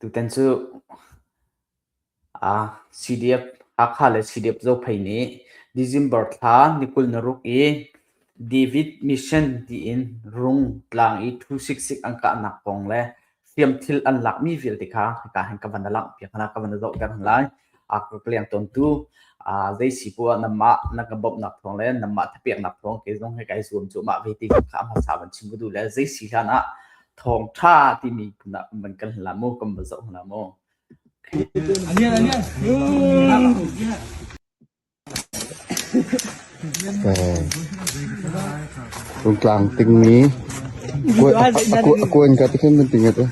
Tutan cu CDF, Hakha le CDF zophei nih December thla ni kul na ruk i David Mission tiin rung, tlang i thu siksik an kahnak kong le hriamthil an lakmi vialte kha hika hin ka van na langhpiak hna, ka van na zohter hna lai. ka leng ton tu zei si pu ah namah na ka bawmhnak thawng le namah thapeknak thawng ke zong he kai zuam cu mah ve ti kha am hasa ban chim ku du le zei si hlan ah thawng tha ti mi na man kan la mu kam ba zo na mu Anian anian. Rungtlang tingmi a kuan ka ti hrinhrinhring ati.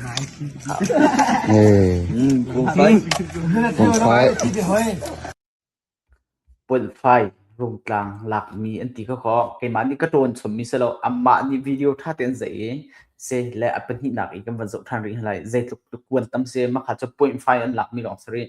Punfai rungtlang lakmi an ti kha kho. Keimah nih ka ṭawn chommi si lo, amah nih video ṭha tein an zeih i se le a pahnihnak i kan van zoh ṭhan rih hna lai. Zeitluk kuan tam si, makha cu punfai an lakmi lawng si rih.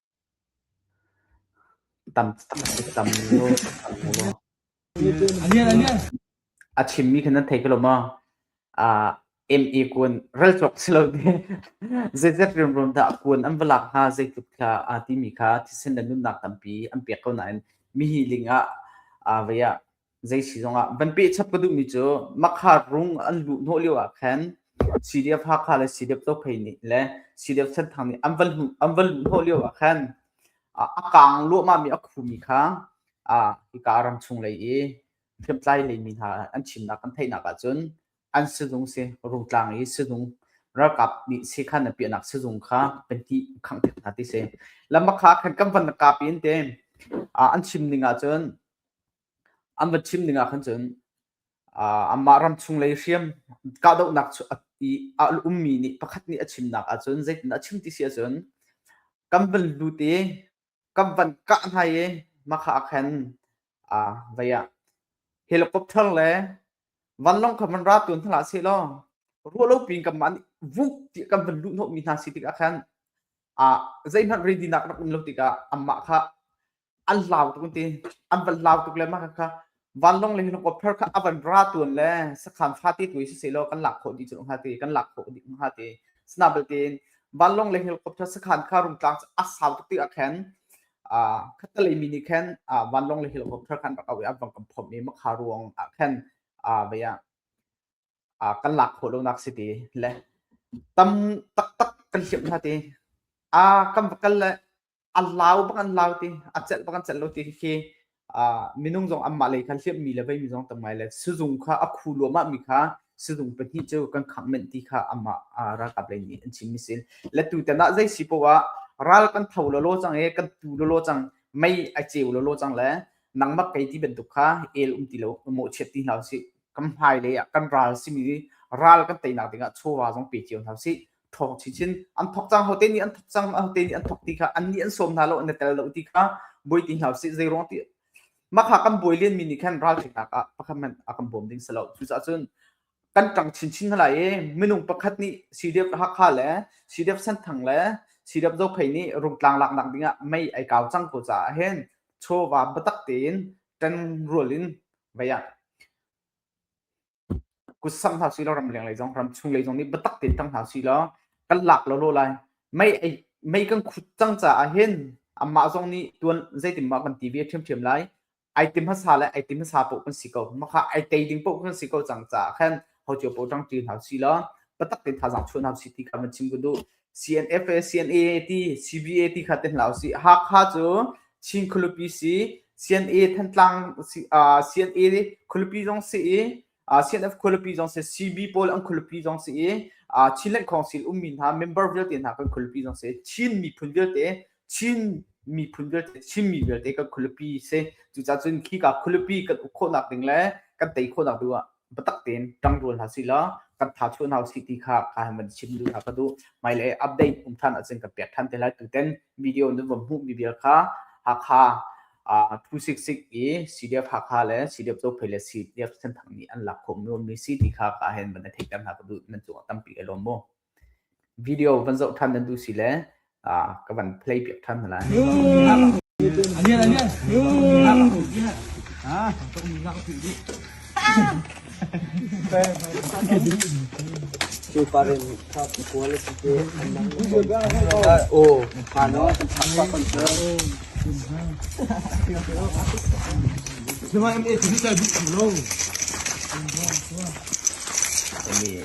A chimmi khi nan thei ko lo maw? Ah, MA kun ral cawk si lo te. Zeizat rumrum dah kun an va lak hna, zeitluk kha aa timi kha thisen le nunnak tampi an pek ko nain mihi ling ah, ah vei ah zeisi zongah van pehchap ka duhmi cu makhaat rung an luh hnawh lio ah khan CDF Hakha le CDF Dophei nih le CDF Senthang nih an van an van luh hnawh lio ah khan a, a kaang luahmahmi a khumi kha a hika ram chung lei i hriamtlai lei mi hna an chimnak kan theihnak ahcun an sizung si rungtlang i sizung ralkap nih sekhan a piahnak sizung kha kan ti khangthek hna ti si lama kha khan kan van kapi in te an chim ning ahcun an va chim ding ahkhan cun anmah ram chunglei hriam kahdohnak i a ummi nih pakhat nih a chimnak ahcun zeitin a chim ti si ahcun kan van lut i kan van kah hna i mahka ah khan vei ah helicopter le vanlawng kha van ra tawn hna hlah seh law ruahlopi in kanmah nih vuk ti kan van luh hnawhmi hna si tikah khan zeihmanh ready nak rak um lo tikah anmah kha an hlau tuk ti an van hlau tuk le mah kha vanlong le hin ko pher kha avan ra tuan le sakhan fa ti tu si se lo kan lak kho di chu ha ti kan lak kho di ha ti sna betin vanlong le helicopter sakhan kha rum tlang a sau tuk ti a khen a khatalei mi ni khen vanlong le helicopter khan rak awi abang kam phom mi makha ruang a khen a vaya a kan lak kho lo nak si ti le tam tak tak kan hlim ha ti a kam kal le a lau bang an lau ti a celh bang an celh lo ti khi minung zong anmah lei khan hliammi le veimi zong tamngai le sizung kha a khu luahmah mi kha sizung pahnih cu kan khang men ti kha amah ralkap lei nih an chimmi sin le tu tan ah zei si poah ral kan tho lo lo cang e kan tu lo lo cang mei a ceu lo lo cang le nangmak kei ti bantuk kha el um ti lo mo chiat ti hlau si kam hmai le kan ral simi ral kan teinak dingah chawwa zong pe cio hlau si ṭhawng chichin an thok cang hote nih an thok cang hote nih an thok ti kha an nih an sawm hna lo an i tel lo ti kha buai ti hna sih zeiruang ti makha kan buai len mi nih khan ralhrinak ah pakhat man a kan bawm ding si lo cucaah cun kan ṭang chinchin hna lai i minung pakhat nih CDF Hakha le CDF Senthang le CDF Zophei nih rungtlang laknak dingah mei ai kau cang ko caah hin chawva biatak tein ṭan rual in vaya kutsang hna si law ramleng lei zong ramchung lei zong nih biatak tein tang hna si law kan lak lo lo lai mei mei kan khut cang caah hin amah zong nih tuan zeitin mah kan ti ve ṭhiamṭhiam lai ai tim hasa le ai tim hasa poh kan si ko maka ai tei ding poh kan si ko cang caah khan ho cio poh ṭang ṭi hna si law biatak tein thazang chuan hna si ti kha kan chim ko duh CNFA, CNA ti, CVA ti kha te hlah usih. Hakha cu Chin khualipi si, CNA Thantlang, CNA khualipi zong si i, CNF khualipi zong si, CB pawl an khualipi zong si i, Chin Lengkhawng sil ummi hna member vialte hna kan khualipi zong si, Chin miphun vialte Chin miphun vialte, Chinmi vialte kan khualipi si. Cucacun khi ka khualipi kan uk khawhnak ding le kan tei khawhnak ding ah biatak tein ṭangrual hna sih law kan tha chuah hna usih ti kha ka han van chim duh hna ka duh. Hmai le update um ṭhan ahcun kan pek ṭhan te lai. Tuten video nan van hmuhmi vial kha Hakha uh, 266 i CDF Hakha le CDF Copay le CDF Senthang nih an lak khawh mi um mi si ti kha ka hen ban theihter hna ka duh nan cung ah tampi ka lawm mu. video van zoh ṭhan nan duh si le ka van play piak ṭhan hna lai.